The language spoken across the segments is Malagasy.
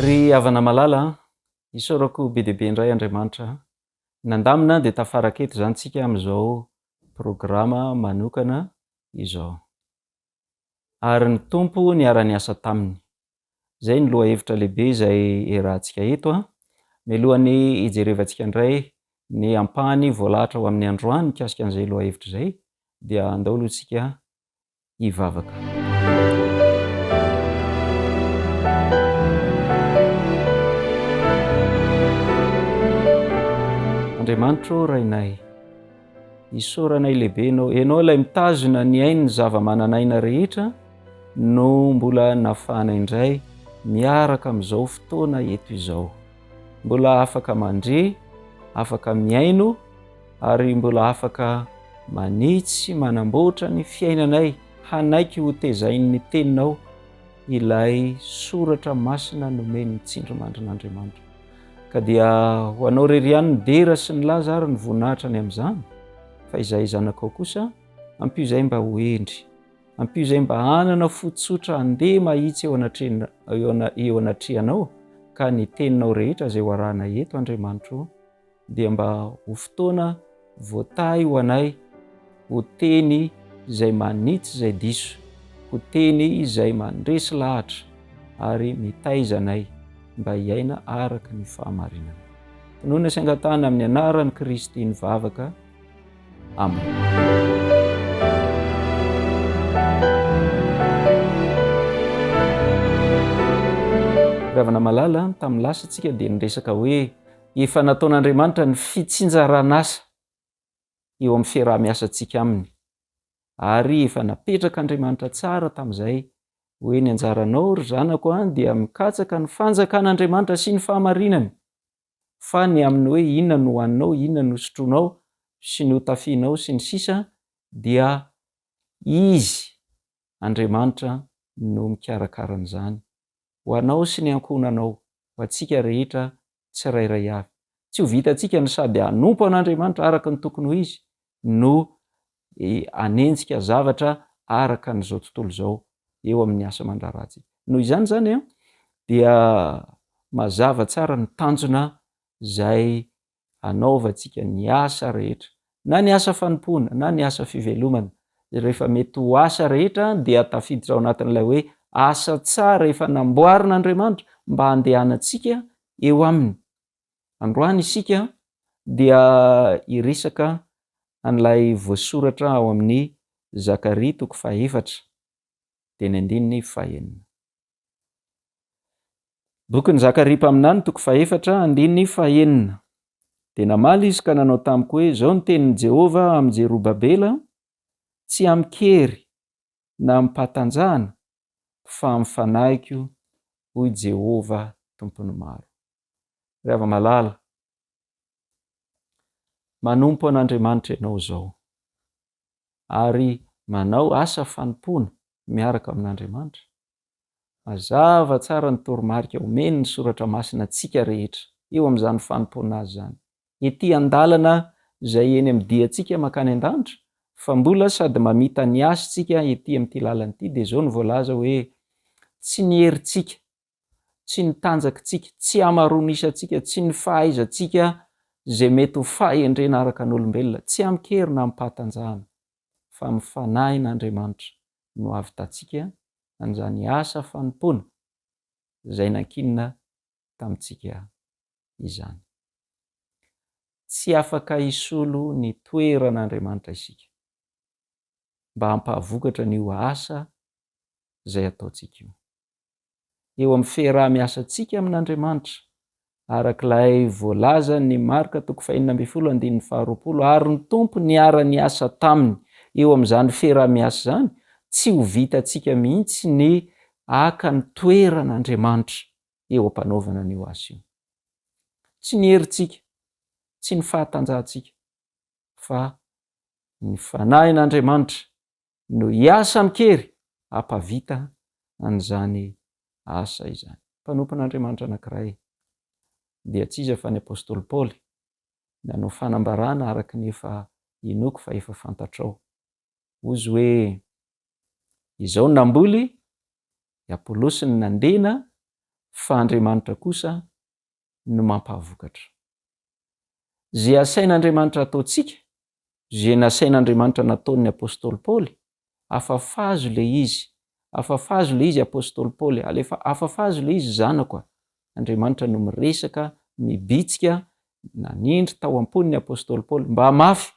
Ry havana malala an! Isaorako be dia be indray Andriamanitra nandamina dia tafaraka eto izany tsika amin'izao programa manokana izao. ary ny Tompo niara-niasa taminy. Izay no lohahevitra lehibe izay iarahantsika eto an! Mialohan'ny hijerevantsika indray ny ampahany voalahatra ho amin'ny androany mikasika an'izay lohahevitra izay, dia andao aloha isika hivavaka. Andriamanitro Rainay. Isaoranay lehibe Ianao. Ianao ilay mitazona ny ain'ny zava-manan'aina rehetra no mbola nafana indray miaraka amin'izao fotoana eto izao. Mbola afaka mandre, afaka mihaino ary mbola afaka manitsy, manamboatra ny fiainanay, hanaiky ho tezain'ny teninao ilay soratra masina nomen'ny tsindrimandrin'Andriamanitra. Ka dia ho anao rery ihany ny dera sy ny laza ary ny voninahitra ny amin'izany, fa izahay zanakao kosa, ampio izahay mba ho hendry. Ampio izahay mba hanana fo tsotra handeha mahitsy eo anatrehan- eo ana- eo anatrehanao, ka ny teninao rehetra izay ho arahana eto, Andriamanitro, dia mba ho fotoana Voatahy ho anay ho teny izay manitsy izay diso, ho teny izay mandresy lahatra ary mitaiza anay mba hiaina araka ny fahamarinana. Inoana sy angatahana amin'ny anaran'i Kristy ny vavaka. Amena. Ravana malala, tamin'ny lasa tsika dia niresaka hoe Efa nataon'Andriamanitra ny fitsinjaran'asa eo amin'ny fiaraha-miasantsika Aminy, ary efa napetrak'Andriamanitra tsara tamin'izay hoe, Ny anjaranao, ry zanako an, dia mikatsaka ny fanjakan'Andriamanitra sy ny fahamarinany, fa ny amin'ny hoe inona no hohaninao, inona no sotroinao, sy ny hotafianao, sy ny sisa dia Izy, Andriamanitra, no mikarakara an'izany. ho anao sy ny ankohonanao, ho antsika rehetra tsirairay avy. Tsy ho vitantsika ny sady hanompo an'Andriamanitra araka ny tokony ho izy no hanenjika zavatra araka an'izao tontolo izao eo amin'ny asa aman-draharahantsika. Noho izany izany dia mazava tsara ny tanjona izay hanaovantsika ny asa rehetra, na ny asa fanompoana, na ny asa fivelomana, izay rehefa mety ho asa rehetra dia tafiditra ao anatin'ilay hoe asa tsara efa namboarin'Andriamanitra mba handehanantsika eo Aminy. Androany isika dia hiresaka an'ilay voasoratra ao amin'ny Zakaria toko faha efatra, teny andininy faha enina. Bokin'i Zakaria mpaminany, toko fahefatra, andininy fahenina. Dia namaly izy ka nanao tamiko hoe, Izao no tenin'i Jehovah amin'i Jerobabela, Tsy amin-kery na amim-pahatanjahana, fa amin'ny fanahiko, hoy Jehovah Tompon'ny maro. Ry hava-malala, manompo an'Andriamanitra ianao izao. ary manao asa fanompoana miaraka amin'Andriamanitra? Mazava tsara ny toromarika omen'ny Soratra Masina antsika rehetra eo amin'izany fanompoana Azy izany, ety an-dalana izay eny amin'ny diantsika mankany an-danitra, fa mbola sady mamita ny hasy tsika ety amin'ity lalana ity, dia izao no voalaza hoe, Tsy ny herintsika tsy ny tanjakintsika, tsy hamaroanisantsika, tsy ny fahaizantsika izay mety ho fahendrena araka ny olombelona, tsy amin-kery na amim-pahatanjahana, fa amin'ny Fanahin' Andriamanitra no hahavitantsika an'izany asa fanompoana izay nankinina tamintsika izany. Tsy afaka hisolo ny toeran' Andriamanitra isika mba hampahavokatr'an'io asa izay ataontsika io. eo amin'ny fiaraha-miasantsika amin'Andriamanitra, araka ilay voalazan'i Marka toko faheenina ambin'ny folo andininy faharoapolo, ary ny Tompo niara-niasa taminy eo amin'izany fiaraha-miasa izany, tsy ho vitantsika mihitsy ny haka ny toeran'Andriamanitra eo am-panaovana an'io asa io. Tsy ny herintsika, tsy ny fahatanjahantsika, fa ny Fanahin'Andriamanitra no hiasa amin-kery hampavita an'izany asa izany. Mpanompon'Andriamanitra anankiray, dia tsy iza fa ny apostoly Paoly, nanao fanambarana araka ny efa inoako fa efa fantatrao. Hozy hoe, Izao no namboly, i Apolosy no nandena, fa Andriamanitra kosa no mampahavokatra. Ze asain'Andriamanitra ataontsika, ze nasain'Andriamanitra nataon'ny Apostoly Paoly, afafazo le izy, afafazo le izy Apostoly Paoly, alefa, afafazo le izy zanako a! Andriamanitra no miresaka, mibitsika, nanindry tao am-pon'ny Apostoly Paoly, mba mafy,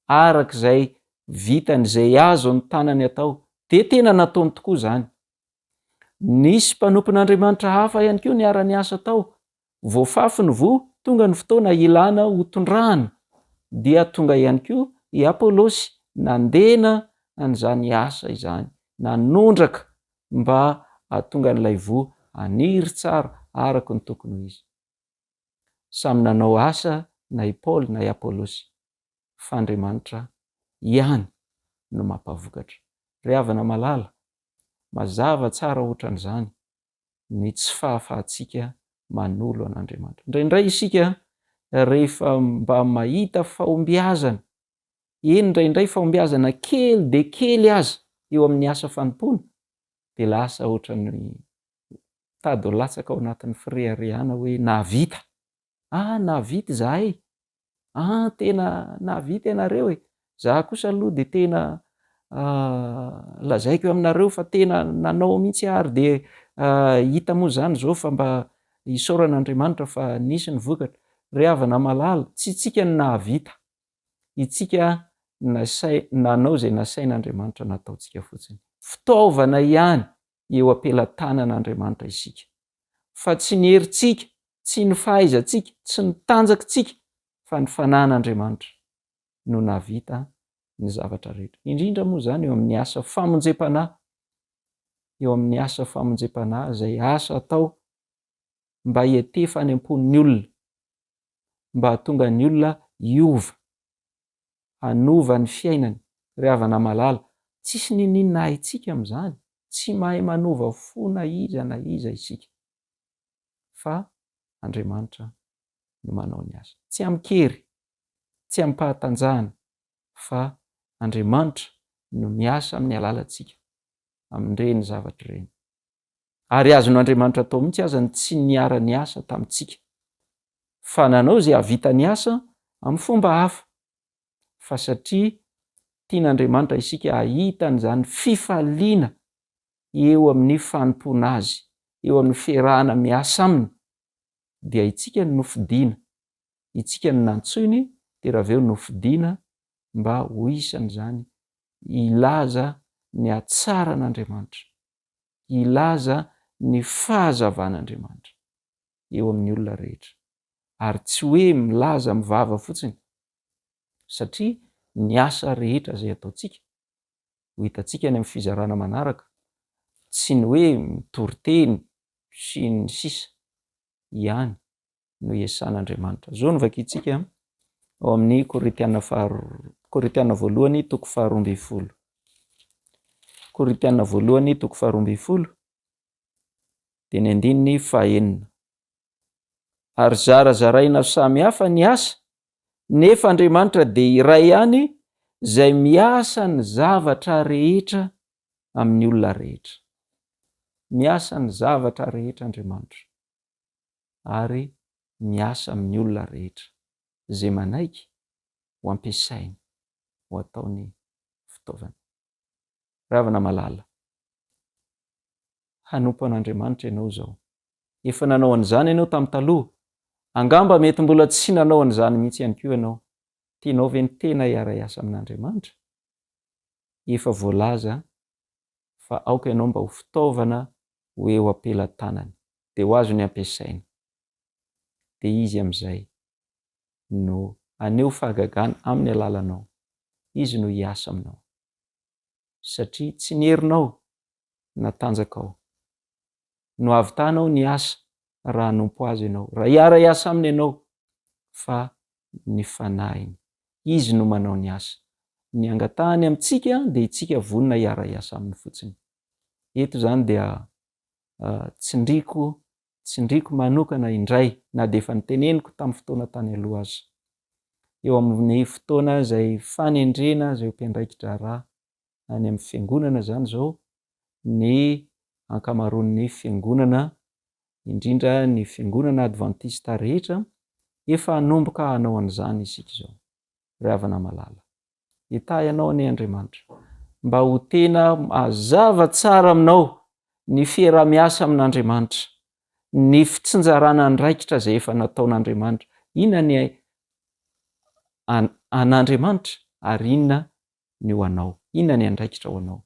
arak'izay vitany, zay azon'ny tanany atao, de tena nataony tokoa zany, Nisy mpanompon'Andriamanitra hafa ihany koa niara-niasa tao. Voafafy ny voa, tonga ny fotoana hilana ho tondrahana, dia tonga ihany koa i Apolosy nandena an'izany asa izany, nanondraka mba hahatonga an'ilay voa haniry tsara araka ny tokony ho izy. Samy nanao asa na i Paoly na i Apolosy. fa Andriamanitra ihany no mampavokatra. Ry havana malala, mazava tsara ohatran'izany ny tsy fahafahantsika manolo an'Andriamanitra. Indraindray isika rehefa mba mahita fahombiazana, eny indraindray fahombiazana kely dia kely aza eo amin'ny asa fanompoana, dia lasa ohatran'ny mitady ho latsaka ao anatin'ny fireharehana hoe nahavita Ah nahavita izahay e! Ah tena nahavita ianareo e! Za kosa aloha dia tena lazaiko aminareo fa tena nanao mihitsy ary dia hita moa izany izao fa mba isaorana Andriamanitra fa nisy ny vokatra. Ry havana malala, tsy isika no nahavita, itsika nanao izay nasain'Andriamanitra nataontsika fotsiny. Fitaovana ihany eo am-pelatanan'Andriamanitra isika. fa tsy ny herintsika, tsy ny fahaizantsika, tsy ny tanjakintsika, fa ny fanahin'Andriamanitra no nahavita ny zavatra rehetra. Indrindra moa izany eo amin'ny asa famonjempanahy, eo amin'ny asa famonjempanahy izay asa atao mba hietefany am-pon'ny olona, mba hahatonga ny olona hiova. hanova ny fiainany. Ry havana malala, tsisy niniana haintsika amin'izany, tsy mahay manova fo na iza na iza isika, fa Andriamanitra no manao ny asa. Tsy amin-kery, tsy amim-pahatanjahana, fa Andriamanitra no miasa amin'ny alalantsika, amin'ireny zavatra ireny. Ary azon'Andriamanitra atao mihitsy aza ny tsy niara-niasa tamintsika, fa nanao izay hahavitany asa amin'ny fomba hafa, fa satria tian'Andriamanitra isika hahita an'izany fifaliana eo amin'ny fanompoana Azy, eo amin'ny fiarahana miasa Aminy, dia itsika no nofidina, itsika no nantsoiny, dia raha avy eo nofidina mba ho isan'izany hilaza ny hatsaran'Andriamanitra. hilaza ny fahazavan'Andriamanitra eo amin'ny olona rehetra, ary tsy hoe milaza amin'ny vava fotsiny, satria ny asa rehetra izay ataontsika, ho hitantsika any amin'ny fizarana manaraka, tsy ny hoe mitory teny sy ny sisa ihany, no iesan'Andriamanitra. Izao no vakintsika ao amin'ny Korintiana faharoa, Korintiana voalohany toko faharoa ambin'ny folo. Korintiana voalohany toko faharoa ambin'ny folo dia ny andininy fahenina. Ary zarazaraina samy hafa ny asa, nefa Andriamanitra dia iray ihany izay miasa ny zavatra rehetra amin'ny olona rehetra. Miasa ny zavatra rehetra Andriamanitra. ary miasa amin'ny olona rehetra. Izay manaiky ho ampiasainy ho ataony fitaovana. Ry havana malala, hanompo an'Andriamanitra ianao izao. Efa nanao an'izany ianao tamin'ny taloha. Angamba mety mbola tsy nanao an'izany mihitsy ihany koa ianao. Tianao ve ny tena hiara-hiasa amin'Andriamanitra? Efa voalaza fa aoka ianao mba ho fitaovana ho eo am-pelatanany, dia ho azony ampiasaina. Dia Izy amin'izay no haneho fahagagana amin'ny alalanao. Izy no hiasa aminao. Satria tsy ny herinao na tanjakao no havitanao ny asa raha hanompo Azy ianao, raha hiara-hiasa Aminy ianao, fa ny Fanahiny. Izy no manao ny asa. Ny angatahany amintsika dia itsika vonona hiara-hiasa Aminy fotsiny. Eto izany dia tsindriako, tsindriako manokana indray, na dia efa niteneniko tamin'ny fotoana tany aloha aza. Eo amin'ny fotoana izay fanendrena azy ho mpiandraiki-draharaha, any amin'ny fiangonana izany izao ny ankamaroan'ny fiangonana, indrindra ny fiangonana advantista rehetra, efa hanomboka hanao an'izany isika izao. Ry havana malala. Hitahy anao anie Andriamanitra, mba ho tena mazava tsara aminao ny fieraha-miasa amin'Andriamanitra, ny fitsinjarana andraikitra izay efa nataon'Andriamanitra. Inona ny an'Andriamanitra ary inona ny ho anao? Inona ny andraikitra ho anao?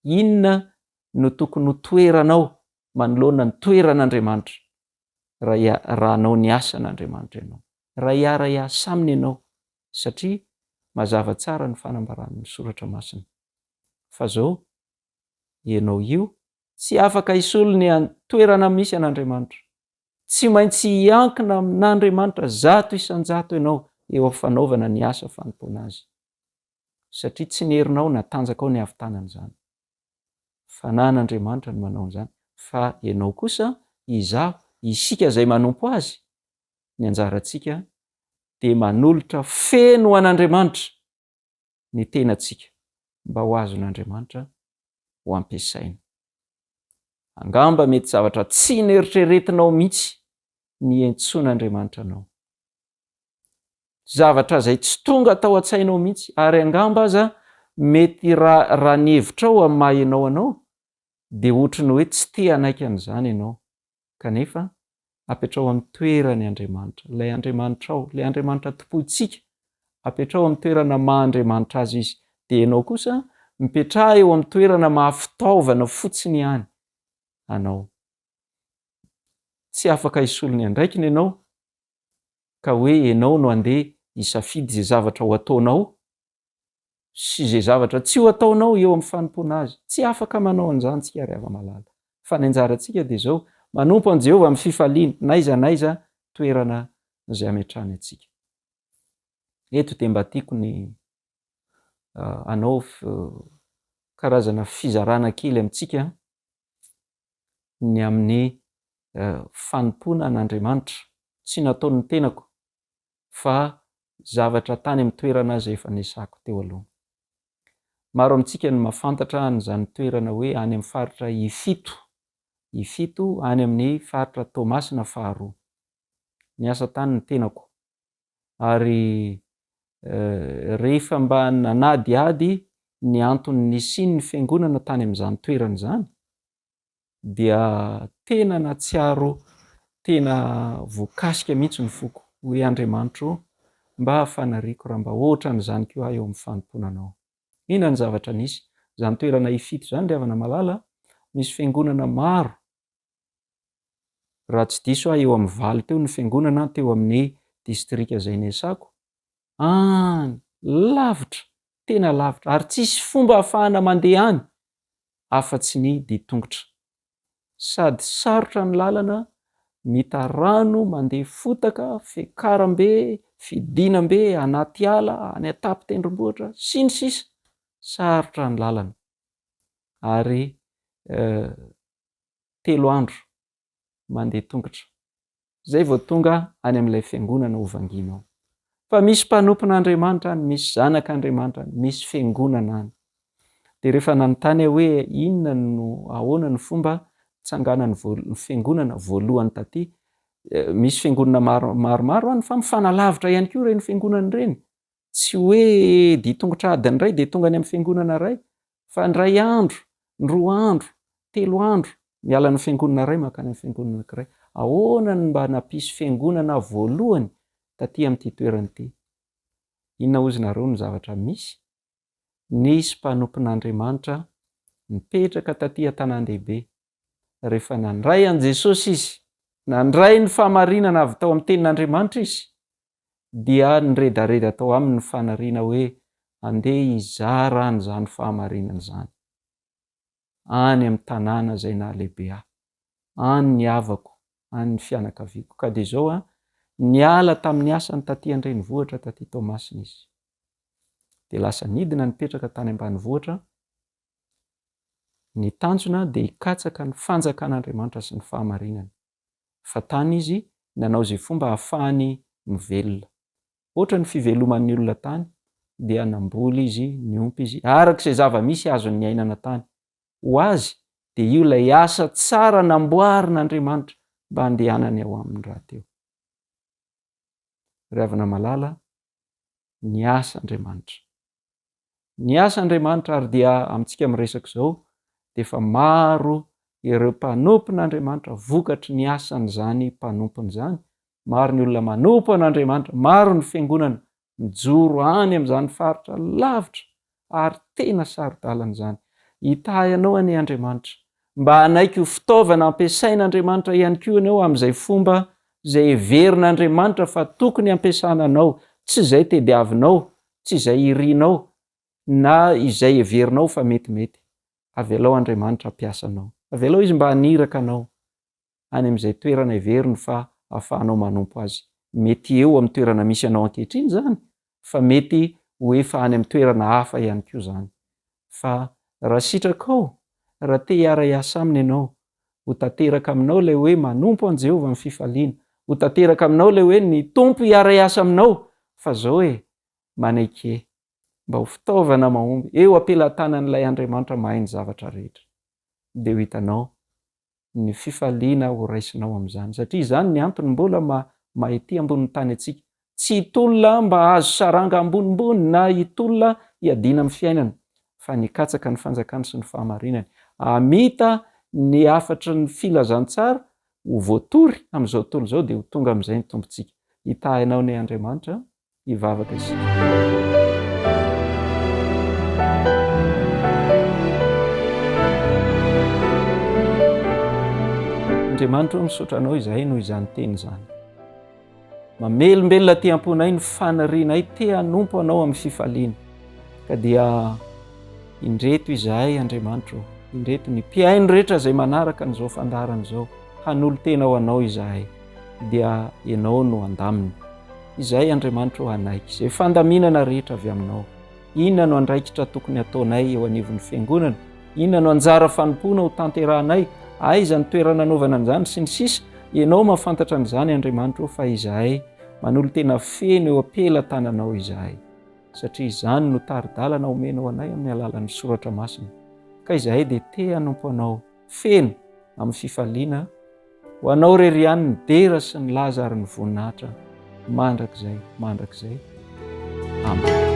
Inona no tokony ho toeranao manoloana ny toeran'Andriamanitra raha hanao ny asan'Andriamanitra ianao? Raha hiara-hiasa Aminy ianao, satria mazava tsara ny fanambaran'ny Soratra Masina fa zao, Ianao io tsy afaka hisolo ny toerana misy an'Andriamanitra. Tsy maintsy hiankina amin'Andriamanitra zato isan-jato ianao eo am-fanaovana ny asa fanompoana Azy. satria tsy ny herinao na tanjakao ny havitanana izany. Fanahin'Andriamanitra no manao an'izany, fa ianao kosa, izaho, isika izay manompo Azy, ny anjarantsika dia manolotra feno ho an'Andriamanitra ny tenantsika mba ho azon'Andriamanitra ho ampiasaina. Angamba mety zavatra tsy neritreretinao mihitsy ny hiantsoan'Andriamanitra anao. zavatra izay tsy tonga tao an-tsainao mihitsy, ary angamba aza mety raha raha ny hevitrao amin'ny maha ianao anao dia ohatry ny hoe tsy te hanaiky an'izany ianao, kanefa apetraho amin'ny toerany Andriamanitra, ilay Andriamanitrao, ilay Andriamanitra tompointsika, apetraho amin'ny toerana maha Andriamanitra azy izy, dia ianao kosa mipetraha eo amin'ny toerana maha fitaovana fotsiny ihany anao. Tsy afaka hisolo ny andraikiny ianao ka hoe ianao no andeha hisafidy izay zavatra ho ataonao sy izay zavatra tsy ho ataonao eo amin'ny fanompoana Azy. Tsy afaka manao an'izany isika, ry hava-malala, fa ny anjarantsika dia izao, manompo an'i Jehovah amin'ny fifaliana, n'aiza n'aiza toerana izay ametrahany antsika. Eto dia mba tiako ny hanao karazana fizarana kely amintsika ny amin'ny fanompoana an'Andriamanitra, tsy nataon'ny tenako fa zavatra tany amin'ny toerana izay efa niasako teo aloha. Maro amintsika no mahafantatra an'izany toerana hoe any amin'ny faritra Ifito, Ifito any amin'ny faritra Toamasina faharoa. Niasa tany ny tenako. ary rehefa mba nanadihady ny antony nisian'ny fiangonana tany amin'izany toerana izany dia tena natsiaro tena voakasika mihitsy ny foko hoe Andriamanitro mba fanariako raha mba ohatran'izany koa aho eo amin'ny fanompoana anao. Inona ny zavatra nisy? Izany toerana ifito izany ry havana malala, misy fiangonana maro Raha tsy diso aho eo amin'ny valo teo ny fiangonana teo amin'ny distrika izay niasako. Any! Lavitra! Tena lavitra! Ary tsisy fomba ahafahana mandeha any afa-tsy ny dian-tongotra. Sady sarotra ny lalana, mita rano, mandeha fotaka, fiakaram-be, fidinam-be, anaty ala, any an-tampon-tendrombohitra, sy ny sisa Sarotra ny lalana. Ary eh. telo andro mandeha tongotra zay vao tonga any amin'ilay fiangonana ho vanginao. Fa misy mpanompon'Andriamanitra any, misy zanak'Andriamanitra any, misy fiangonana any. Dia rehefa nanontany aho hoe inona no ahoana ny fomba nitsanganan'ny fiangonana voalohany taty, misy fiangonana maromaro any fa mifanalavitra ihany koa ireny fiangonana ireny, tsy hoe dia tongotra adiny iray dia tonga any amin'ny fiangonana iray fa indray andro, indroa andro, telo andro, miala ny fiangonana iray mankany amin'ny fiangonana anankiray. Ahoana no mba nampisy fiangonana voalohany taty amin'ity toerana ity? Inona hozy nareo no zavatra misy? Nisy mpanompon'Andriamanitra nipetraka taty an-tanàn-dehibe. Rehefa nandray an'i Jesosy izy, nandray ny fahamarinana avy tao amin'ny tenin'Andriamanitra izy, dia niredareda tao aminy ny fanariana hoe handeha hizara an'izany fahamarinana izany any amin'ny tanàna izay nahalehibe ahy, any ny havako, any ny fianakaviako. Ka dia izao, niala tamin'ny asany tatỳ an-drenivohitra tatỳ Toamasina izy, dia lasa nidina nipetraka tany ambanivohitra. Ny tanjona dia hikatsaka ny Fanjakan'Andriamanitra sy ny fahamarinana. fa tany izy nanao izay fomba hahafahany mivelona. Hoatra ny fiveloman'ny olona tany, dia namboly izy, niompy izy, araka izay zava-misy azony niainana tany. Ho azy, dia io ilay asa tsara namboarin'Andriamanitra mba handehanany ao Aminy rahateo. Ry havana malala, niasa Andriamanitra. Ny asa Andriamanitra ary dia amintsika amin'ny resaka izao dia efa maro ireo mpanompon' Andriamanitra vokatry ny asan'izany mpanompony izany, maro ny olona manompo an' Andriamanitra, maro ny fiangonana mijoro any amin'izany faritra lavitra ary tena saro-dalana izany. Hitahy anao anie Andriamanitra. Mba hanaiky ho fitaovana ampiasain' Andriamanitra ihany koa ianao amin'izay fomba izay heverin' Andriamanitra fa tokony hampiasana anao, tsy izay tediavinao tsy izay irinao na izay heverinao fa metimety. Avelao Andriamanitra hampiasa anao. Avelao Izy mba haniraka anao any amin'izay toerana heveriny fa ahafahanao manompo Azy. Mety eo amin'ny toerana misy anao ankehitriny izany, fa mety ho efa any amin'ny toerana hafa ihany koa izany. Fa raha sitrakao, raha te hiara-hiasa aminy ianao, ho tanteraka aminao ilay hoe manompo an'i Jehovah amin'ny fifaliana. Ho tanteraka aminao ilay hoe ny Tompo hiara-hiasa aminao. Fa izao e, manaiky e. Mba ho fitaovana mahomby eo am-pelantanan'ilay Andriamanitra mahay ny zavatra rehetra. Dia ho hitanao ny fifaliana ho raisinao amin'izany, satria izany ny antony mbola maha mahity ambonin'ny tany antsika. Tsy hitolona mba hahazo saranga ambonimbony na hitolona hiadiana amin'ny fiainana, fa ny hikatsaka ny fanjakany sy ny fahamarinany, hamita ny hafatry ny filazantsara ho voatory amin'izao tontolo izao, dia ho tonga amin'izay ny tombontsika. Hitahy anao anie Andriamanitra a! hivavaka isika. Andriamanitro misaotra anao izahay noho izany teny izany. Mamelombelona aty am-ponay ny fanirianay te hanompo anao amin'ny fifaliana. Ka dia indreto izahay Andriamanitro, indreto ny mpihaino rehetra izay manaraka an'izao fandaharana izao, hanolo-tena ho anao izahay. dia Ianao no handamina. Izay, Andriamanitra ô, hanaiky izay fandaminana rehetra avy Aminao. Inona no andraikitra tokony hataonay eo anivon'ny Fiangonana? Inona no anjara fanompoana ho tanterahanay? Aiza ny toerana anaovana an'izany? Sy ny sisa Ianao mahafantatra an'izany, Andriamanitra ô, fa izahay manolo-tena feno eo am-pelatananao izahay, satria izany no tari-dalana omenao anay amin'ny alalan'ny Soratra Masina. Ka izahay dia te-hanompo Anao. feno amin'ny fifaliana ho anao re ry any ny dera sy ny laza ary ny voninahitra mandrakizay mandrakizay amen